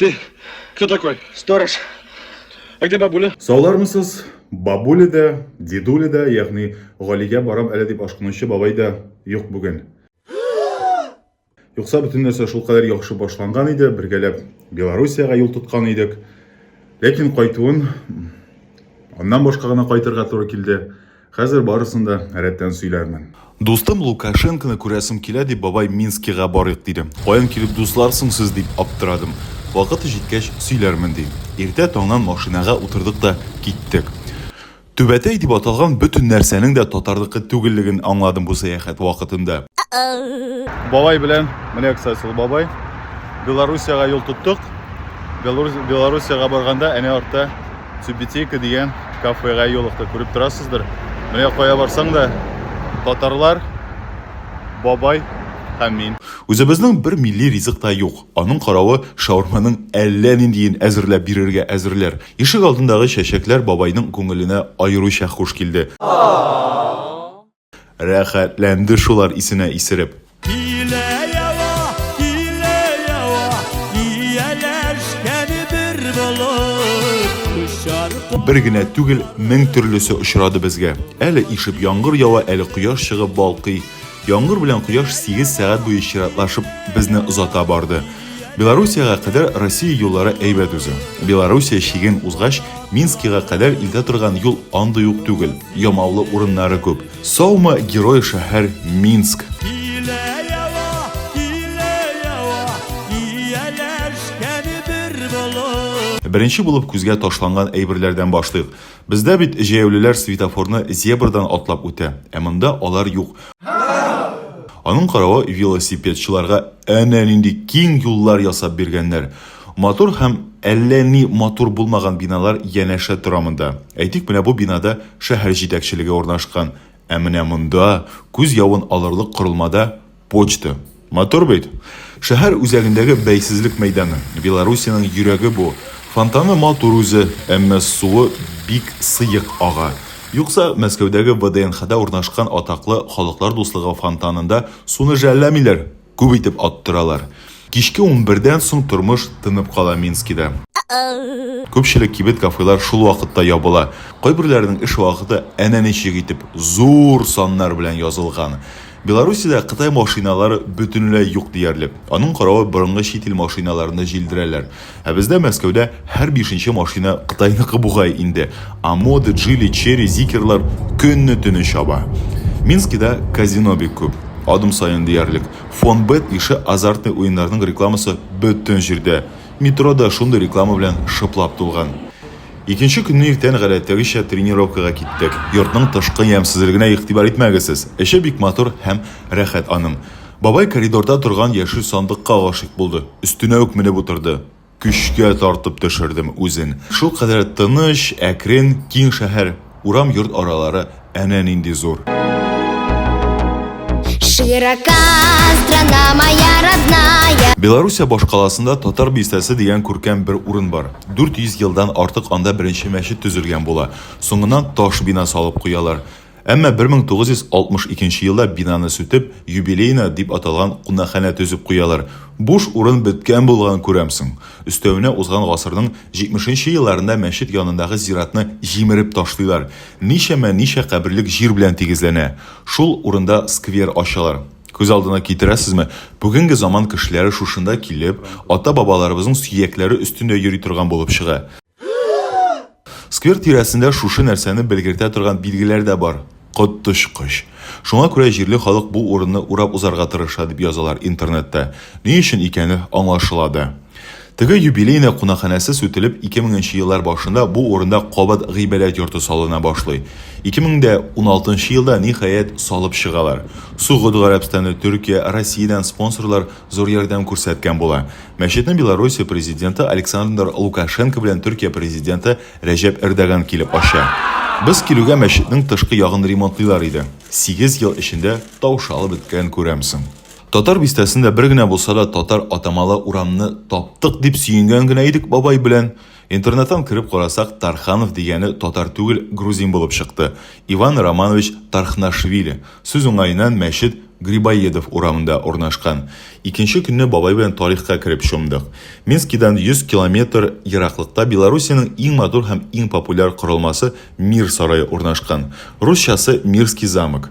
Ты кто такой? Сторож. А где бабуля? Саулармысыз? Бабуля да, дедуля да, ягъни Галигә барам әле дип ашкынучы бабай да юк бүген. Юкса бөтен нәрсә шул кадәр яхшы башланган иде, бергәләп Белоруссиягә юл тоткан идек. Ләкин кайтуын аннан башка гына кайтырга туры килде. Хәзер барысын да рәттән сөйләрмен. Дустым Лукашенконы күрәсем килә, дип, бабай, Минскига барыйк, диде. Каян килеп дуслар соң сез, дип аптырадым. Вакыты җиткәч сөйләрмен, ди. Иртә таңнан машинага утырдык та киттек. Түбәтәй дип аталган бөтен нәрсәнең дә татарныкы түгеллеген аңладым бу сәяхәт вакытында. Бабай белән, менә кстати ул бабай, Белоруссиягә юл тоттык. Белоруссиягә барганда әнә артта Тюбетейка дигән кафега юлыктык. Күреп торасыздыр. Менә кая барсаң да татарлар, бабай һәм мин. Үзебезнең бер милли ризык та юк. Аның каравы, шаурманың әллә ниндиен әзерләп бирергә әзерләр. Ишек алдындагы чәчәкләр бабайның күңеленә аеруча хуш килде. Рәхәтләнде шулар исенә исереп. Илә ява, илә ява, ияләшкән бер болыт, очар Бер генә түгел, мең төрлесе очрады безгә. Әле ишеп яңгыр ява, әле кояш чыгып балкый. Яңгыр белән кояш сигез сәгать буе чиратлашып безне озата барды. Белоруссиягә кадәр Россия юллары әйбәт үзе. Белоруссия чиген узгач, Минскига кадәр илтә торган юл андый ук түгел. Ямаулы урыннары күп. Саумы, герой шәһәр Минск. Беренче булып күзгә ташланган әйберләрдән башлыйк. Бездә бит җәяүлеләр светофорны зебрадан атлап үтә, ә монда алар юк. Аның каравы, велосипедчыларга әнә нинди киң юллар ясап биргәннәр. Матур һәм әллә ни матур булмаган биналар янәшә тора монда. Әйтик, менә бу бинада шәһәр җитәкчелеге урнашкан. Ә менә монда, күз явын алырлык корылмада, почта. Матур бит? Шәһәр үзәгендәге бәйсезлек мәйданы. Белоруссиянең йөрәге бу. Фонтаны матур үзе, әмма суы бик сыек ага. Юкса, Мәскәүдәге ВДНХда урнашкан атаклы Халыклар дуслыгы фонтанында суны жәлләмиләр. Күп итеп аттыралар. Кичке унбердән соң тормыш тынып кала Минскида. Күпчелек кибет-кафелар шул вакытта ябыла. Кайберләренең эш вакыты әнә ничек итеп, зур саннар белән язылган. Белоруссиядә Кытай машиналары бөтенләй юк диярлек. Аның каравы борынгы чит ил машиналарны җилдерәләр. Ә бездә Мәскәүдә һәр бишенче машина Кытайныкы бугай инде. Амоды, Джили, Черри, Зикерлар көнне-төне чаба. Минскида казино бик күп. Адым саен диярлек Фонбет ише азартный уеннарның рекламасы бөтен җирдә. Метро да шундый реклама белән шыплап тулган. Икенче көнне иртән гадәттәгечә тренировкага киттек. Йортның тышкы ямьсезлегенә игътибар итмәгез сез. Эче бик матур һәм рәхәт аның. Бабай коридорда торган яшел сандыкка гашыйк булды. Өстенә үк менеп утырды. Көчкә тартып төшердем үзен. Шулкадәр тыныч, әкрен, киң шәһәр, урам-йорт аралары әнә нинди зур. Широка страна моя родная. Белоруссия башкаласында Татар бистәсе дигән күркәм бер урын бар. 400 елдан артык анда беренче мәчет төзелгән була. Соңыннан таш бина салып куялар. Әмма 1962 елда бинаны сүтеп, юбилейная дип аталган кунакханә төзеп куялар. Буш урын беткән булган, күрәмсең. Өстәвенә узган гасырның 70 нче елларында мәчет янындагы зиратны җимереп ташлыйлар. Ничәмә ничә каберлек җир белән тигезләнә. Шул урында сквер ачалар. Күз алдына китерәсезме, бүгенге заман кешеләре шушында килеп, ата-бабаларыбызның сөякләре өстендә йөри торган булып чыга. Сквер тирәсендә шушы нәрсәне белгертә торган билгеләр дә бар. Коточкыч. Шуңа күрә җирле халык бу урынны урап узарга тырыша, дип язалар интернетта. Ни өчен икәне аңлашыла да. Теге юбилейная кунакханәсе сүтелеп, 2000 нче еллар башында бу урында кабат гыйбадәт йорты салына башлый. 2016 нчы елда, ниһаять, салып чыгалар. Согуд Гарәбстаны, Төркия, Россиядән спонсорлар зур ярдәм күрсәткән була. Мәчетне Белоруссия президенты Александр Лукашенко белән Төркия президенты Рәҗәп Эрдоган килеп ача. Без килүгә мәчетнең тышкы ягын ремонтлыйлар иде. Сигез ел эчендә таушалып беткәнен күрәмсең. Татар бистәсендә бер генә булса да татар атамалы урамны таптык дип сөенгән генә идек бабай белән. Интернеттан кереп карасак, Тарханов дигәне татар түгел, грузин булып чыкты. Иван Романович Тархнашвили. Сүз уңаеннан, мәчет Грибоедов урамында урнашкан. Икенче көнне бабай белән тарихка кереп чумдык. Минскидан 100 километр ераклыкта Белоруссиянең иң матур һәм иң популяр корылмасы Мир сарае урнашкан. Русчасы Мирский замок.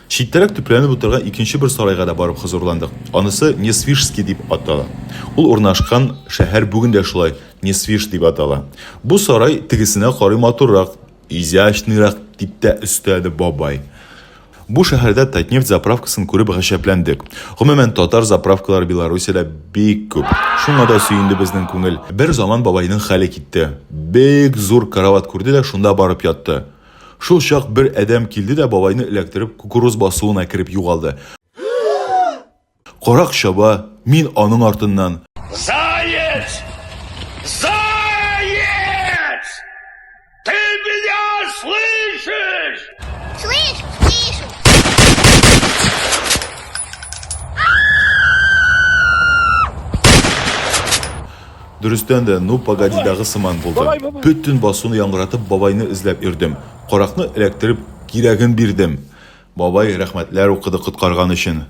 Читтәрәк төпләнеп утырган икенче бер сарайга да барып хозурландык. Анысы Несвижский дип атала. Ул урнашкан шәһәр бүген дә шулай, Несвиж дип атала. Бу сарай тегесенә карый матуррак, изящныйрак, дип тә өстәде бабай. Бу шәһәрдә Татнефть заправкасын күреп гаҗәпләндек. Гомумән, татар заправкалары Белоруссиядә бик күп. Шуңа да сөенде безнең күңел. Бер заман бабайның хәле китте. Бик зур карават күрде дә шунда барып ятты. Шул чак бер адәм килде дә бабайны эләктереп кукуруз басуына кереп югалды. Карак чаба, мин аның артыннан. Заяц! Заяц! Ты меня слышишь? Слышу, слышу. Дөрестән дә, ну погодидагы сыман булды. Бөтен басуны яңгыратып бабайны эзләп йөрдем. Каракны эләктереп, кирәген бирдем. Бабай рәхмәтләр укыды коткарган өчен.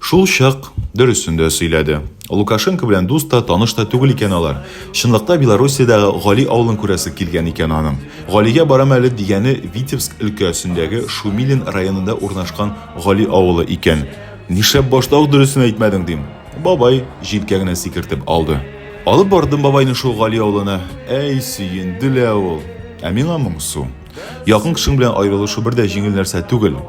Шул чак дөресен дә сөйләде. Лукашенко белән дус та, таныш та түгел икән алар. Чынлыкта Белоруссиядәге Гали авылын күрәсе килгән икән аның. Галигә барам әле дигәне Витебск өлкәсендәге Шумилин районында урнашкан Гали авылы икән. Нишләп башта ук дөресен әйтмәдең, дим. Бабай җилкә генә сикертеп алды. Алып бардым бабайны шул Гали авылына. Әй, сөенде лә ул. Ә миңа моңсу. Якын кешең белән аерылышу бер дә җиңел нәрсә түгел.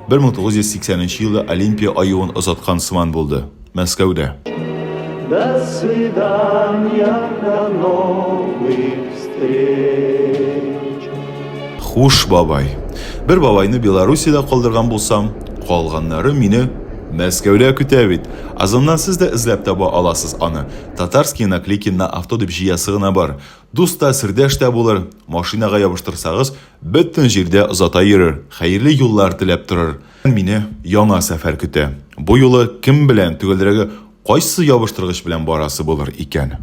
1980 елда Олимпия аюын озаткан сыман булды. Мәскәүдә. До свидания, до новых встреч. Хуш, бабай. Бер бабайны Белоруссиядә калдырган булсам, калганнары мине Мәскәүдә көтә бит. Озоннан сез дә эзләп таба аласыз аны. Татарские наклейки на авто дип җыясы гына бар. Дус та, сердәш тә булыр. Машинага ябыштырсагыз, бөтен җирдә озата йөрер, хәерле юллар теләп торыр. Мине яңа сәфәр көтә. Бу юлы кем белән, төгәлрәге, кайсы ябыштыргыч белән барасы булыр икән?